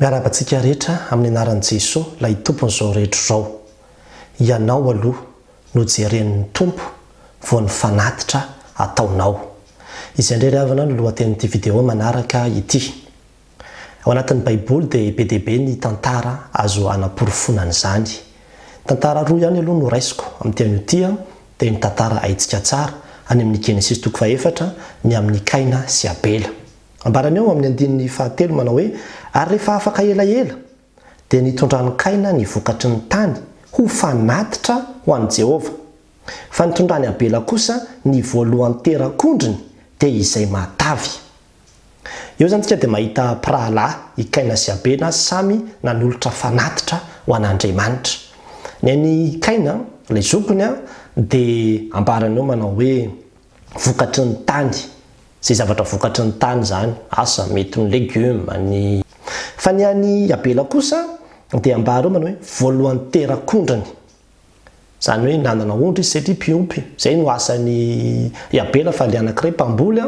Miarahaba antsika rehetra amin'ny anaran'i Jesoa ilay Tompon'izao rehetra izao. Ianao aloha no jeren'ny Tompo vao ny fanatitra ataonao. Izay indray ry havana no lohatenin'ity video manaraka ity. Ao anatin'ny Baiboly dia be dia be ny tantara azo hanaporofoana an'izany. Tantara roa ihany aloha no raisiko amin'ity anio ity dia ny tantara haintsika tsara any amin'ny Genesisy toko faha efatra ny amin'ny Kaina sy Abela. Ambarany ao amin'ny andininy fahatelo manao hoe, Ary rehefa afaka elaela, dia nitondran'i Kaina ny vokatry ny tany ho fanatitra ho an'i Jehovah, fa nitondran'i Abela kosa ny voalohan-terak'ondriny, dia izay matavy. Eo izany isika dia mahita mpirahalahy, i Kaina sy Abela, samy nanolotra fanatitra ho an'Andriamanitra. Ny an'i Kaina, ilay zokiny, dia ambarany eo manao hoe, vokatry ny tany, izay zavatra vokatry ny tany izany, asa mety ny legioma, ny. Fa ny an'i Abela kosa dia ambara eo manao hoe voalohany terak'ondrany. Izany hoe nanana ondry izy satria mpiompy, izay no asan'i i Abela fa ilay anankiray mpamboly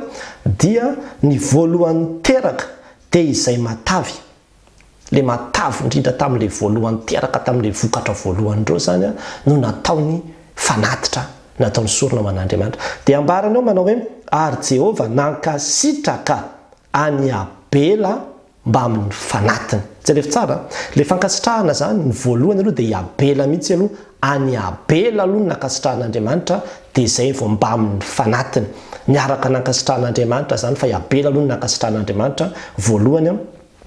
dia ny voalohany teraka dia izay matavy Ilay matavy indrindra tamin'ilay voalohany teraka tamin'ilay vokatra voalohan'ireo izany no nataony fanatitra, nataony sorona ho an'Andriamanitra. Dia ambarany ao manao hoe, Ary Jehovah nankasitraka an'i Abela mbamin'ny fanatiny. Jereo tsara, ilay fankasitrahana izany, ny voalohany aloha dia i Abela mihitsy aloha Any Abela aloha no nankasitrahan'Andriamanitra dia izay vao mbamin'ny fanatiny. Niaraka nankasitrahan'Andriamanitra izany fa i Abela aloha no nankasitrahan'Andriamanitra voalohany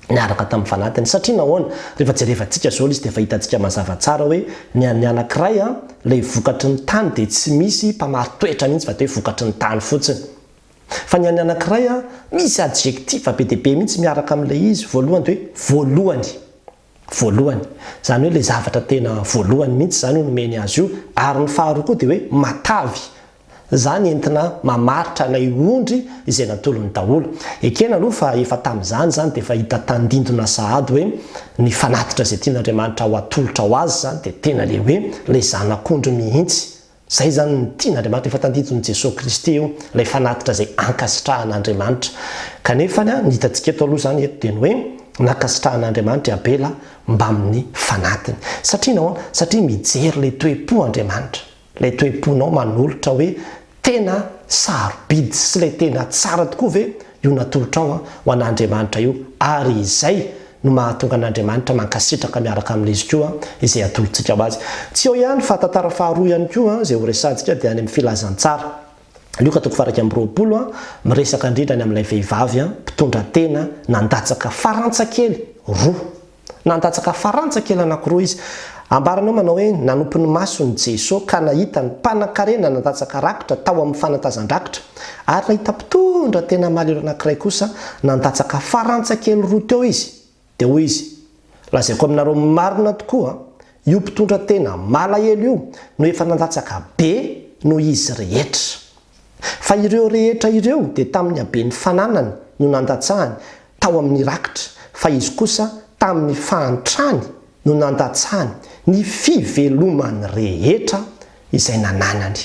niaraka tamin'ny fanatiny. Satria nahoana? Rehefa jerevantsika izao ilay izy dia efa hitantsika mazava tsara hoe ny an'ny anankiray ilay vokatry ny tany dia tsy misy mpamari-toetra mihitsy fa dia hoe vokatry ny tany fotsiny. Fa ny an'ny anankiray misy adjectif be dia be mihitsy miaraka amin'ilay izy voalohany dia hoe voalohany. voalohany, izany hoe ilay zavatra tena voalohany mihitsy izany io nomeny azy io, ary ny faharoa koa dia hoe matavy, izany entina mamaritra ilay ondry izay natolony daholo. Ekena aloha fa efa tamin'izany izany dia efa hita tandindona sahady hoe ny fanatitra izay tian'Andriamanitra ho atolotra ho azy izany dia tena ilay hoe ilay zanak'ondry mihitsy, Izay izany no tian'Andriamanitra, efa tandinton'i Jesoa Kristy io, ilay fanatitra izay ankasitrahan'Andriamanitra. Kanefa ny hitantsika eto aloha izany eto dia ny hoe nankasitrahan'Andriamanitra i Abela mbamin'ny fanatiny. Satria inona? Satria mijery ilay toe-po Andriamanitra, ilay toe-ponao manolotra hoe tena sarobidy sy ilay tena tsara tokoa ve io natolotrao ho an'Andriamanitra io ary izay no mahatonga an'Andriamanitra mankasitraka miaraka amin'izy koa izay atolotsika ho Azy. Tsy eo ihany fa tantara faharoa ihany koa izay horesahantsika dia any amin'ny Filazantsara, Lioka toko faha-iraika amby roapolo, miresaka indrindra ny amin'ilay vehivavy mpitondra tena nandatsaka farantsa kely roa. Nandatsaka farantsa kely anankiroa izy. Ambarany eo manao hoe, Nanompo ny masony Jeso ka nahita ny mpanankarena nandatsaka rakitra tao amin'ny fanatazan-drakitra. Ary nahita mpitondra tena malahelo anankiray kosa nandatsaka farantsa kely roa teo izy, dia hoy izy, Lazaiko aminareo marina tokoa, io mpitondra tena malahelo io no efa nandatsaka be noho izy rehetra. Fa ireo rehetra ireo dia tamin'ny haben'ny fananany no nandatsahany tao amin'ny rakitra, fa izy kosa tamin'ny fahantrany no nandatsahany ny fivelomany rehetra izay nananany.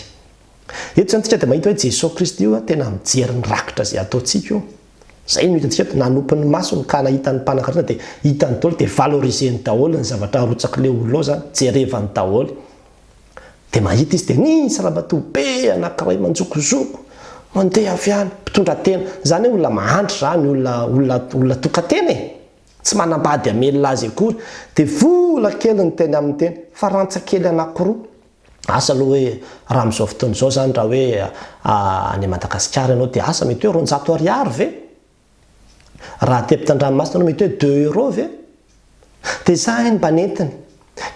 Eto izany tsika dia mahita hoe Jesoa Kristy io tena mijery ny rakitra izay ataontsika io. Izay no hitantsika eto, nanopy ny masony ka nahita ny mpanankarena dia hitany daholo dia valoriseny daholo ny zavatra arotsakin'io olona io izany, jerevany daholo. Dia mahita izy dia nisy ramatoa be anankiray manjokozoko, mandeha avy any, mpitondra tena. Izany hoe olona mahantra izany, olona, olona, olona tokantena e! Tsy manambady hamelona azy akory. Dia vola kely ny teny aminy teny, farantsa kely anankiroa. Asa aloha hoe raha amin'izao fotoana izao izany raha hoe any Madagasikara ianao dia asa mety hoe roanjato ariary ve? Raha aty ampitandranomasina ianao mety hoe deux euros ve? Dia izany mba nentiny.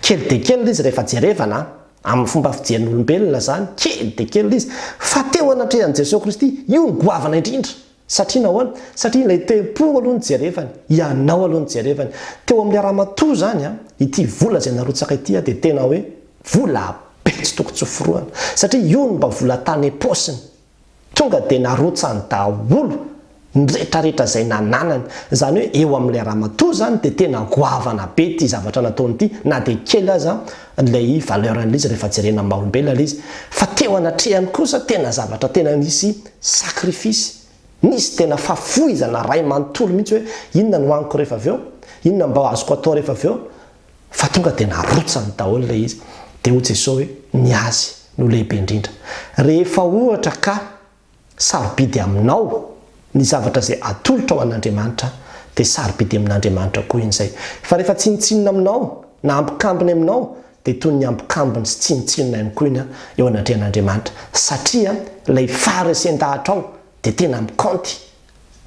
Kely dia kely ilay izy rehefa jerevana an! Amin'ny fomba fijerin'olombelona izany, kely dia kely ilay izy. Fa teo anatrehan'i Jesoa Kristy, io no goavana indrindra! Satria nahoana? Satria ilay tempo aloha no jerevany, ianao aloha no jerevany. Teo amin'ilay ramatoa izany an, ity vola izay narotsaka ity an, dia tena hoe vola be tsy tokony tsoforohana. Satria io no mba vola tany am-paosiny. Tonga dia narotsany daholo ny rehetrarehetra izay nananany. Izany hoe eo amin'ilay ramatoa izany dia tena goavana be ity zavatra nataony ity, na dia kely aza ilay valeur an'ilay izy rehefa jerena amin'ny maha olombelona ilay izy fa teo anatrehany kosa tena zavatra tena nisy sacrifice nisy tena fahafoizana ray manontolo mihitsy hoe inona no haniko rehefa avy eo inona mba azoko atao rehefa avy eo fa tonga dia narotsany daholo ilay izy dia hoy Jesoa hoe ny azy no lehibe indrindra rehefa ohatra ka sarobidy aminao ny zavatra izay atolotra ho an'Andriamanitra, dia sarobidy amin'Andriamanitra koa iny izay. Fa rehefa tsinontsinona aminao na ambokambony aminao, dia toy ny ambokambony sy tsinontsinona ihany koa iny eo anatrehan'Andriamanitra, satria ilay faharesen-dahatrao dia tena mikaonty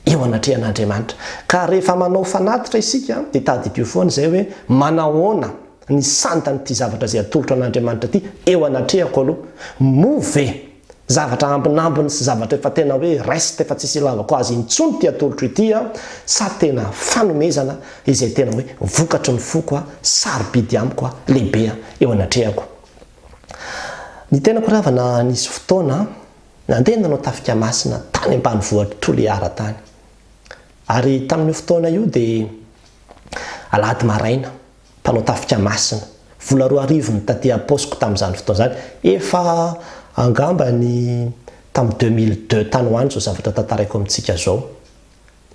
eo anatrehan'Andriamanitra. Ka rehefa manao fanatitra isika dia tadidio foana izay hoe manahoana ny sandan'ity zavatra izay atolotro an'Andriamanitra ity eo anatrehako aloha. Moa ve zavatra ambinambiny sy zavatra efa tena hoe reste efa tsisy ilavako azy intsony ity atolotro ity aho sa tena fanomezana izay tena hoe vokatry ny foko aho, sarobidy amiko aho, lehibe aho eo anatrehako. Ny tenako ry havana nisy fotoana Nandeha nanao tafika masina tany ambanivohitry Toliara tany. Ary tamin'io fotoana io dia alahady maraina, mpanao tafika masina, vola roa arivo ny taty am-paosiko tamin'izany fotoana izany, efa angamba ny tamin'ny deux mille deux tany ho any izao zavatra tantaraiko amintsika izao,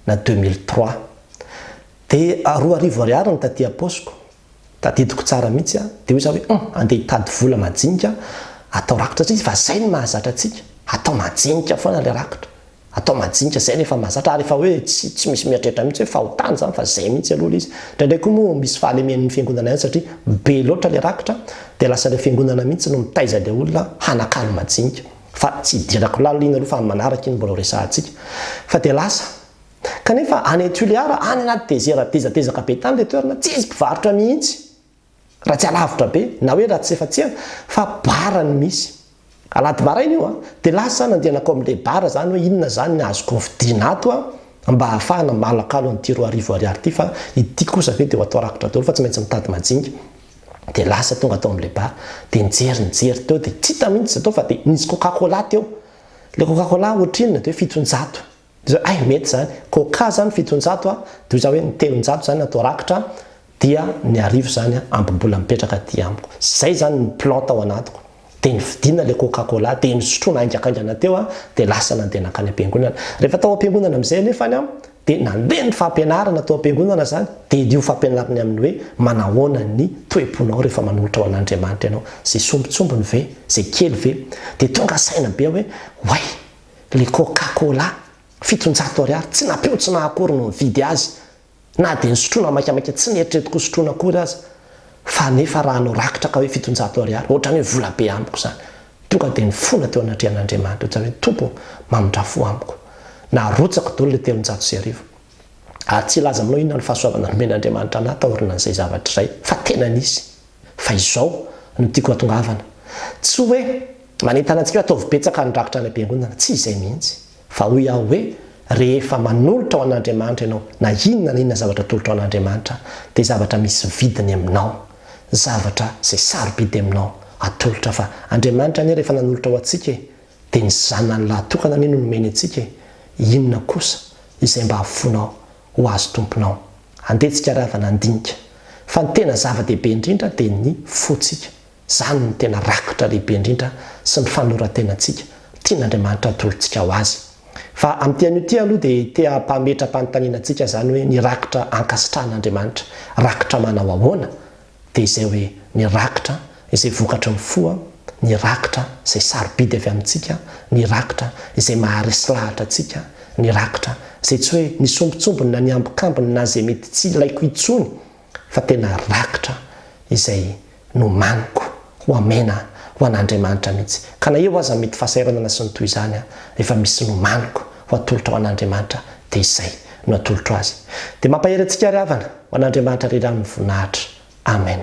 na deux mille trois. Dia roa arivo ariary ny taty am-paosiko, Tadidiko tsara mihitsy aho dia hoy za hoe hum andeha hitady vola majinika atao rakotra tsika fa zay no mahazatra antsika atao majinika foana le rakotra atao majinika zay no efa mahazatra ary efa hoe tsy tsy misy mieritreritra mihitsy hoe fahotana zany fa zay mihitsy aloha le izy ndraindray koa moa misy fahalemen'ny fiangonana ihany satria be loatra le rakotra dia lasa le fiangonana mihitsy no mitaiza le olona hanakalo majinika fa tsy hidirako lalina aloha fa amin'ny manaraka iny mbola ho resahantsika fa dia lasa Kanefa any Tuliara, any anaty desert tezatezaka be tany ilay toerana, tsy misy mpivarotra mihitsy raha tsy alavitra be, na hoe raha tsy efa tsena, fa bar no misy. Alahady maraina io an! Dia lasa aho nandeha nankao amin'ilay bar izany hoe inona izany ny azoko hovidiana ato an! mba hahafahana malakalo an'ity roa arivo ariary ity fa ity kosa ve dia ho atao rakotra daholo fa tsy maintsy mitady majinga. Dia lasa tonga tao amin'ilay bar, dia nijery nijery teo dia tsy hita mihitsy izay tao fa dia nisy coca cola teo. Ilay coca cola ohatrinona dia hoe fitonjato Hay mety izany, koa cas izany fitonjato a, toy izany hoe ny telonjato izany atao rakitra dia ny arivo izany ampy mbola mipetraka aty amiko. Izay izany ny plan tao anatiko. Dia nividiana ilay coca cola, dia nisotroina haingakaingana teo aho, dia lasa nandeha nankany am-piangonana. Rehefa tao am-piangonana amin'izay anefa aho, dia nandeha ny fampianarana tao am-piangonana izany, dia io fampianarana amin'ny hoe manahoana ny toe-ponao rehefa manolotra ho an'Andriamanitra ianao, izay sombintsombiny ve, izay kely ve, dia tonga saina be aho hoe oay, Le coca cola fitonjato ariary tsy napeo tsy naha akory no nividy azy na dia nisotroana maikamaika tsy neritreritiko ho sotroina akory aza fa nefa raha anao rakitra ka hoe fitonjato ariary ohatrany hoe vola be amiko zany tonga dia nifona teo anatrehan'Andriamanitra ohatrany hoe Tompo ô mamindra fo amiko narotsako dolo le telonjato sy arivo ary tsy hilaza aminao inona ny fahasoavana nomen'Andriamanitra anah taorinan'izay zavatra izay fa tena nisy Fa izao no tiako hatongavana. Tsy hoe manentana antsika hoe ataovy betsaka ny rakitra any am-piangonana, tsy izay mihitsy. Fa hoy aho hoe rehefa manolotra ho an'Andriamanitra ianao na inona na inona zavatra atolotra ho an'Andriamanitra dia zavatra misy vidiny aminao, zavatra izay sarobidy aminao atolotra fa Andriamanitra anie rehefa nanolotra ho antsika e, dia ny Zanany lahatokana anie no nomeny antsika e, inona kosa izay mba afoinao ho azy tomponao. Andeha tsika ravana handinika fa ny tena zava-dehibe indrindra dia ny fotsika. Zany no tena rakotra lehibe indrindra sy ny fanorantenantsika tian'Andriamanitra atolotsika ho azy. Fa amin'ity anio ity aloha dia te hampametra-panontaniana antsika zany hoe ny rakotra ankasitrahan'Andriamanitra rakotra manao ahoana? dia izay hoe ny rakitra izay vokatry ny fo, ny rakitra izay sarobidy avy amintsika, ny rakitra izay maharesy lahatra antsika, ny rakitra izay tsy hoe ny sombintsombiny na ny ambikambiny na izay mety tsy ilaiko intsony fa tena rakitra izay nomaniko ho hamena ho an'Andriamanitra mihitsy. Ka na eo aza ny mety fahasahiranana sy ny toy izany, efa misy nomaniko ho atolotra ho an'Andriamanitra dia izay no atolotro azy. Dia mampahery antsika ary havana ho an'Andriamanitra ry Rano ny voninahitra. Amen.